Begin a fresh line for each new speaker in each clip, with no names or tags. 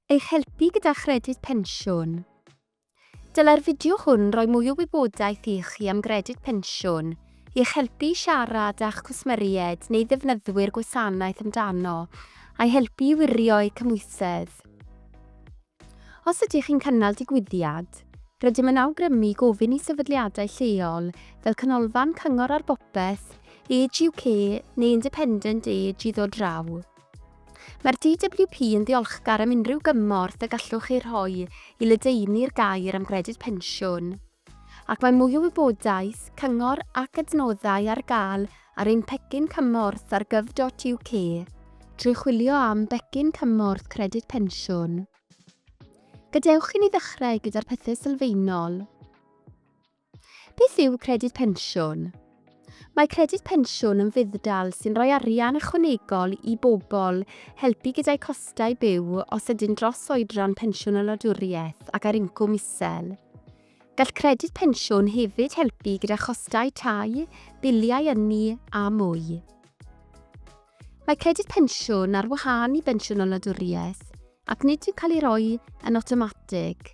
Eich helpu gyda chredyd pensiwn. Dylai'r fideo hwn roi mwy o wybodaeth i chi am gredyd pensiwn, i eich helpu i siarad â'ch cwsmeriaid neu ddefnyddwyr gwasanaeth amdano, a'i helpu i wirio eu cymhwysedd. Os ydych chi'n cynnal digwyddiad, rydym yn awgrymu gofyn i sefydliadau lleol fel Canolfan Cyngor ar Bopeth, Age UK neu Independent Age i ddod draw. Mae'r DWP yn ddiolchgar am unrhyw gymorth y gallwch chi rhoi i ledaenu'r gair am gredyd pensiwn, ac mae mwy o wybodaeth, cyngor ac adnoddau ar gael ar ein pecyn cymorth ar gov.uk trwy chwilio am 'Becyn Cymorth Credyd Pensiwn'. Gadewch i ni ddechrau gyda'r pethau sylfaenol. Beth yw Credyd Pensiwn? Mae Credyd Pensiwn yn fudd-dal sy'n rhoi arian ychwanegol i bobl, helpu gyda'u costau byw os ydy'n dros oedran pensiwn y wladwriaeth ac ar incwm isel. Gall Credyd Pensiwn hefyd helpu gyda chostau tai, biliau ynni a mwy. Mae Credyd Pensiwn ar wahân i Bensiwn o Wladwriaeth ac nid yw'n cael ei roi yn awtomatig.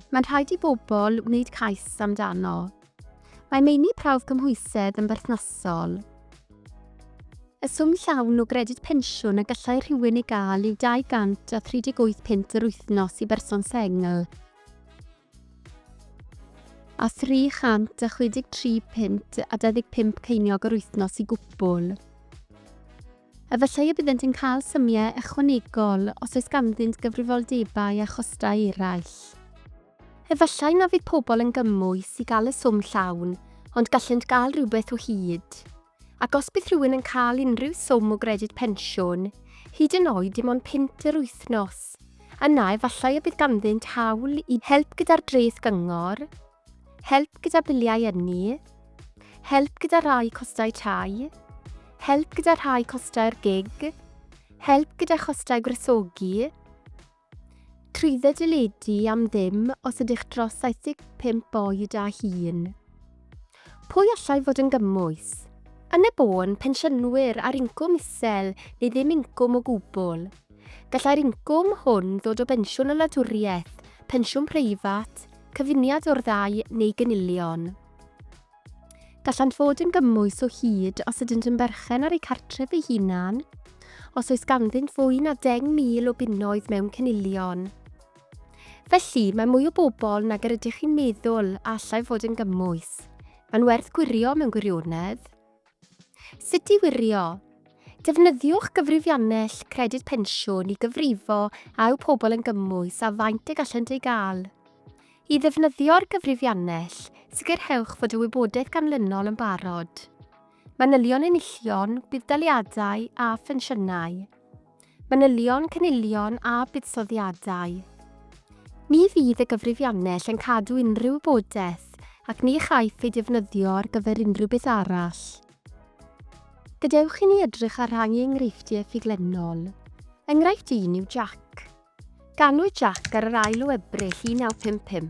Mae'n rhaid i bobl wneud cais amdano. Mae meini prawf cymhwysedd yn berthnasol. Y swm llawn o Gredyd Pensiwn y gallai rhywun ei gael yw £238 yr wythnos i berson sengl. a 363 punt a 25 ceiniog yr wythnos i gwbl. Efallai y byddent yn cael symiau ychwanegol os oes ganddynt gyfrifoldebau a chostau eraill. Efallai na fydd pobl yn gymwys i gael y swm llawn, ond gallent gael rhywbeth o hyd. Ac os bydd rhywun yn cael unrhyw swm o gredyd pensiwn, hyd yn oed dim ond punt yr wythnos, yna efallai y bydd ganddynt hawl i help gyda'r dreth gyngor, help gyda biliau ynni, help gyda rhai costau tai, help gyda rhai costau'r gig, help gyda chostau gwresogi, 30 deledu am ddim os ydych dros 75 oed a hŷn. Pwy allai fod yn gymwys? Yn y bôn, pensiynwyr ar incwm isel neu ddim incwm o gwbl. Gallai'r incwm hwn ddod o bensiwn y wladwriaeth, pensiwn preifat, cyfuniad o'r ddau neu gynilion. Gallant fod yn gymwys o hyd os ydynt yn berchen ar eu cartref eu hunain, os oes ganddynt fwy na 10,000 o bunnoedd mewn cynilion. Felly, mae mwy o bobl nag yr ydych chi'n meddwl a allai fod yn gymwys. Mae'n werth gwirio mewn gwirionedd. Sut i wirio. Defnyddiwch gyfrifiannell Credyd Pensiwn i gyfrifo a yw pobl yn gymwys a faint y gallant ei gael. I ddefnyddio'r gyfrifiannell, sicrhewch fod y wybodaeth ganlynol yn barod. Manylion enillion, budd-daliadau a phensiynau. Manylion, cynilion a buddsoddiadau. Ni fydd y gyfrifiannell yn cadw unrhyw wybodaeth ac ni chaiff ei defnyddio ar gyfer unrhyw beth arall. Gadewch i ni edrych ar rhai enghreifftiau ffuglennol. Enghraifft un yw Jac. Ganwyd Jack ar yr ail o Ebrill 1955.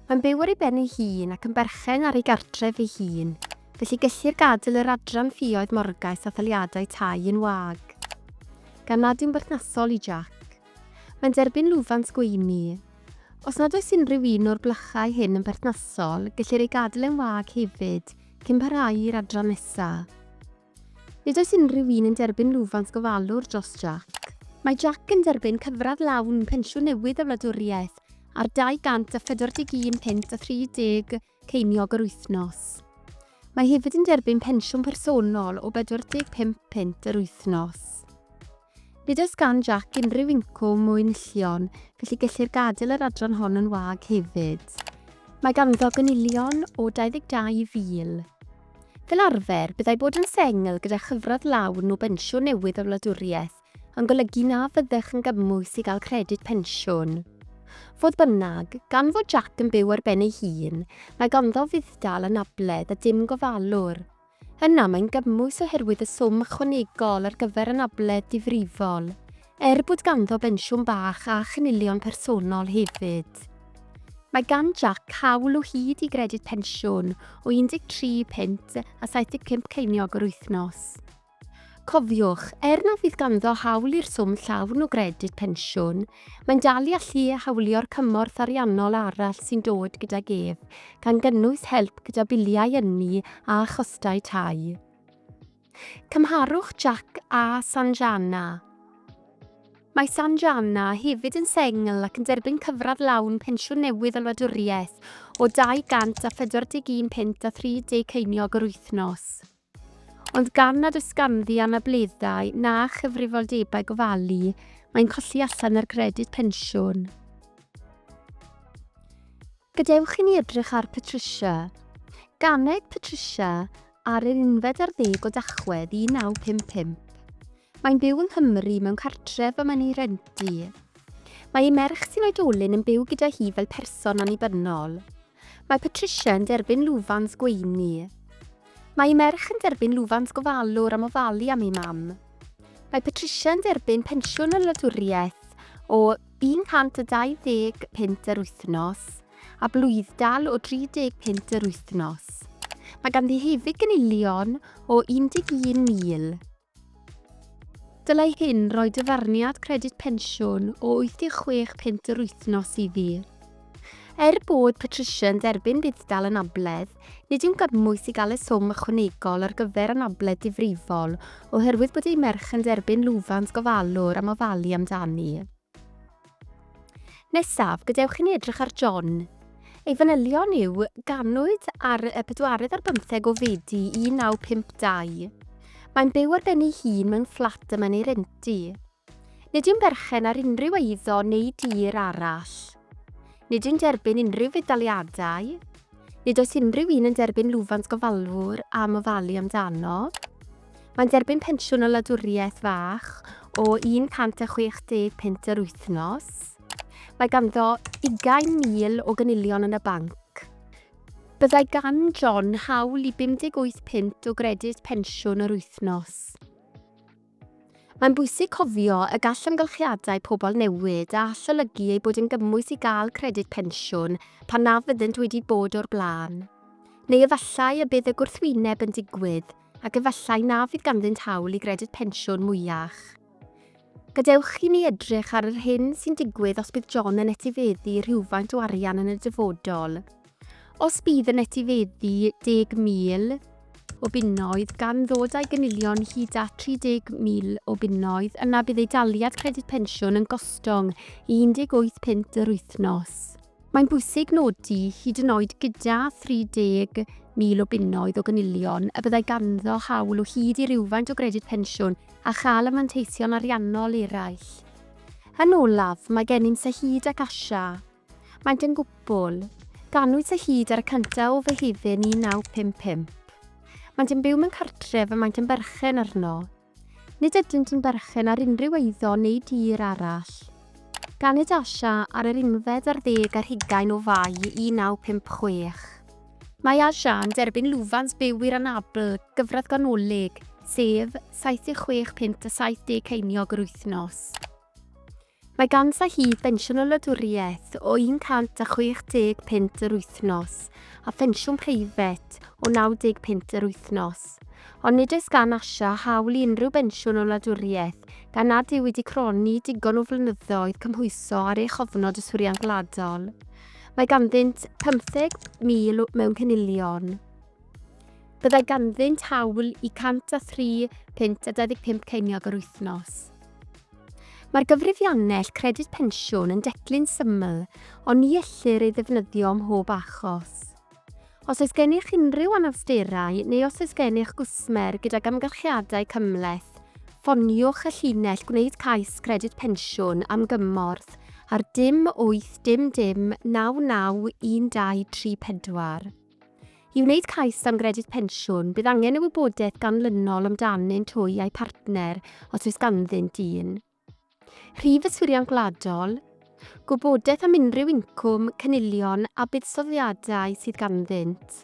Mae'n byw ar ei ben ei hun ac yn berchen ar ei gartref ei hun, felly gellir gadael yr adran ffioedd morgais a thaliadau tai yn wag. Gan nad yw'n berthnasol i Jack. Mae'n derbyn lwfans gweini. Os nad oes unrhyw un o'r blychau hyn yn berthnasol, gellir ei gadael yn wag hefyd, cyn parhau i'r adran nesaf. Nid oes unrhyw un yn derbyn lwfans gofalwr dros Jack. Mae Jack yn derbyn cyfradd lawn pensiwn newydd y wladwriaeth ar 241 punt a 30 ceiniog yr wythnos. Mae hefyd yn derbyn pensiwn personol o 45 punt yr wythnos. Nid oes gan Jac unrhyw incwm mwyn llion, felly gellir gadael yr adran hon yn wag hefyd. Mae ganddo gynilion o 22,000. Fel arfer, byddai bod yn sengl gyda chyfradd lawn o bensiwn newydd y wladwriaeth yn golygu na fyddech yn gymwys i gael credyd pensiwn. Fodd bynnag, gan fod Jac yn byw ar ben ei hun, mae ganddo fudd-dal anabledd a dim gofalwr. Yna mae'n gymwys oherwydd y swm ychwanegol ar gyfer anabledd difrifol, er bod ganddo bensiwn bach a chynilion personol hefyd. Mae gan Jac hawl o hyd i gredyd pensiwn o 13 punt a 75 ceiniog yr wythnos. Cofiwch, er na fydd ganddo hawl i'r swm llawn o gredyd pensiwn, Mae'n dal i allu hawlio'r cymorth ariannol arall sy'n dod gydag ef, gan gynnwys help gyda biliau ynni a chostau tai. Cymharwch Jack â Sanjana. Mae Sanjana hefyd yn sengl ac yn derbyn cyfradd lawn pensiwn newydd y wladwriaeth o 241 punt a 30 ceiniog yr wythnos. Ond gan nad oes ganddi anableddau na chyfrifoldebau gofalu, mae'n colli allan ar gredyd pensiwn. Gadewch i ni edrych ar Patricia. Ganed Patricia ar yr unfed ar ddeg o Dachwedd 1955. Mae'n byw yng Nghymru mewn cartref y mae'n ei rentu. Mae ei merch sy'n oedolyn yn byw gyda hi fel person annibynnol. Mae Patricia yn derbyn lwfans gweini. Mae ei merch yn derbyn lwfans gofalwr am ofalu am ei mam. Mae Patricia yn derbyn pensiwn y wladwriaeth o £120 punt yr wythnos a blwyddal o 30 punt yr wythnos. Mae ganddi hefyd gynilion o £11,000. Dylai hyn roi dyfarniad Credyd Pensiwn o 86 punt yr wythnos i ddydd. Er bod Patricia yn derbyn budd-dal anabledd, nid yw'n gymwys i gael y swm ychwanegol ar gyfer anabledd difrifol oherwydd bod ei merch yn derbyn lwfans gofalwr am ofalu amdani. Nesaf, gadewch i ni edrych ar John. Ei fanylion yw ganwyd ar y pedwaredd ar bymtheg o Fedi 1952. Mae'n byw ar ben ei hun mewn fflat y mae'n ei rentu. Nid yw'n berchen ar unrhyw eiddo neu dir arall. Nid yw'n derbyn unrhyw fedaliadau. Nid oes unrhyw un yn derbyn lwfans gofalwr am ofalu amdano. Mae'n derbyn pensiwn o wladwriaeth fach o 160 punt yr wythnos. Mae ganddo 20,000 o gynilion yn y banc. Byddai gan John hawl i 58 punt o gredyd pensiwn yr wythnos. Mae'n bwysig cofio y gall amgylchiadau pobl newid a all olygu ei bod yn gymwys i gael credyd pensiwn pan na fyddent wedi bod o'r blaen. Neu efallai y bydd y gwrthwyneb yn digwydd, ac efallai na fydd ganddynt hawl i gredyd pensiwn mwy iach. Gadewch i ni edrych ar yr hyn sy'n digwydd os bydd John yn etifeddu rhywfaint o arian yn y dyfodol. Os bydd yn etifeddu 10,000 o bunnoedd gan ddod â'i gynilion hyd at 30,000 o bunnoedd, yna bydd ei daliad credyd pensiwn yn gostwng 18 punt yr wythnos. Mae'n bwysig nodi, hyd yn oed gyda 30,000 o bunnoedd o gynilion, y byddai ganddo hawl o hyd i rywfaint o gredyd pensiwn a chael y manteision ariannol eraill. Yn olaf, mae gennym Sahid ac Asha. Maent yn gwpl. Ganwyd Sahid ar y cyntaf o Fehefin 1955. Maent yn byw mewn cartref y maent yn berchen arno. Nid ydynt yn berchen ar unrhyw eiddo neu dir arall. Ganed Asha ar yr unfed ar ddeg ar hugain o Fai 1956. Mae Asha yn derbyn lwfans byw i'r anabl gyfradd ganolig, sef, 76 punt a 70 ceiniog yr wythnos. Mae ganddo hi bensiwn y wladwriaeth o 160 punt yr wythnos a phensiwn preifat o 90 punt yr wythnos. Ond nid oes gan Asha hawl i unrhyw bensiwn y wladwriaeth gan nad yw wedi cronni digon o flynyddoedd cymhwyso ar ei chofnod yswiriant gwladol. Mae ganddynt 50,000 mewn cynilion. Byddai ganddynt hawl i 103 punt a 25 ceiniog yr wythnos. Mae'r gyfrifiannell Credyd Pensiwn yn declyn syml, ond ni ellir ei ddefnyddio ym mhob achos. Os oes gennych unrhyw anawsterau neu os oes gennych gwsmer gydag amgylchiadau cymhleth, ffoniwch y llinell Gwneud Cais Credyd Pensiwn am gymorth ar dim 8 dim dim 99 1234. I wneud cais am gredyd pensiwn, bydd angen y wybodaeth ganlynol amdanyn twy a'u partner, os oes ganddynt un. Rhif yswiriant gwladol, gwybodaeth am unrhyw incwm, cynilion a buddsoddiadau sydd ganddynt.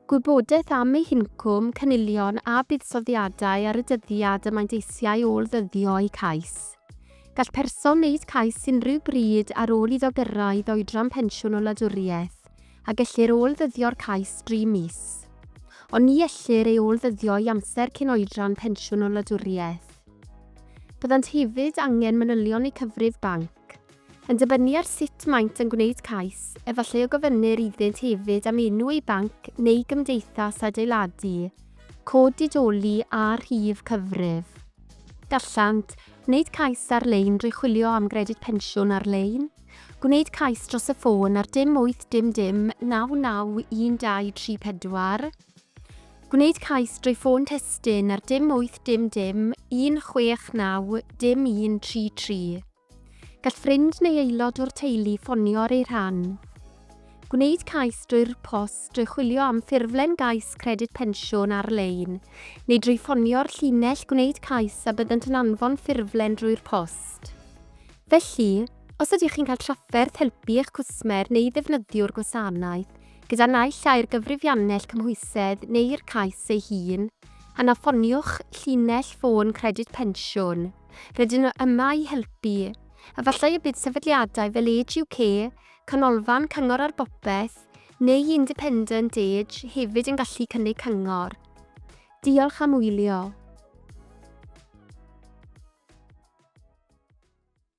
Gwybodaeth am eu hincwm, cynilion a buddsoddiadau ar y dyddiad y maent eisiau ôl-ddyddio eu cais. Gall person wneud cais unrhyw bryd ar ôl iddo gyrraedd oedran pensiwn o wladwriaeth, a gellir ôl-ddyddio'r cais dri mis. Ond ni ellir ei ôl-ddyddio i amser cyn oedran pensiwn o wladwriaeth. Byddant hefyd angen manylion eu cyfrif banc. Yn dibynnu ar sut maent yn gwneud cais, efallai y gofynnir iddynt hefyd am enw eu banc neu gymdeithas adeiladu, cod didoli a rhif cyfrif. Gallant wneud cais ar-lein drwy chwilio am Gredyd Pensiwn ar-lein, gwneud cais dros y ffôn ar dim wyth dim dim naw naw un dau tri pedwar, gwneud cais drwy ffôn testun ar dim wyth dim dim un chwech naw dim un tri tri. Gall ffrind neu aelod o'r teulu ffonio ar eu rhan. Gwneud cais drwy'r post, drwy chwilio am ffurflen gais Credyd Pensiwn ar-lein, neu drwy ffonio'r llinell gwneud cais a byddant yn anfon ffurflen drwy'r post. Felly, os ydych chi'n cael trafferth helpu eich cwsmer neu ddefnyddiwr gwasanaeth gyda naill ai'r gyfrifiannell cymhwysedd neu'r cais ei hun, yna ffoniwch llinell ffôn Credyd Pensiwn. Rydyn nhw yma i helpu. Efallai y bydd sefydliadau fel Age UK, Canolfan Cyngor ar Bopeth, neu Independent Age hefyd yn gallu cynnig cyngor. Diolch am wylio.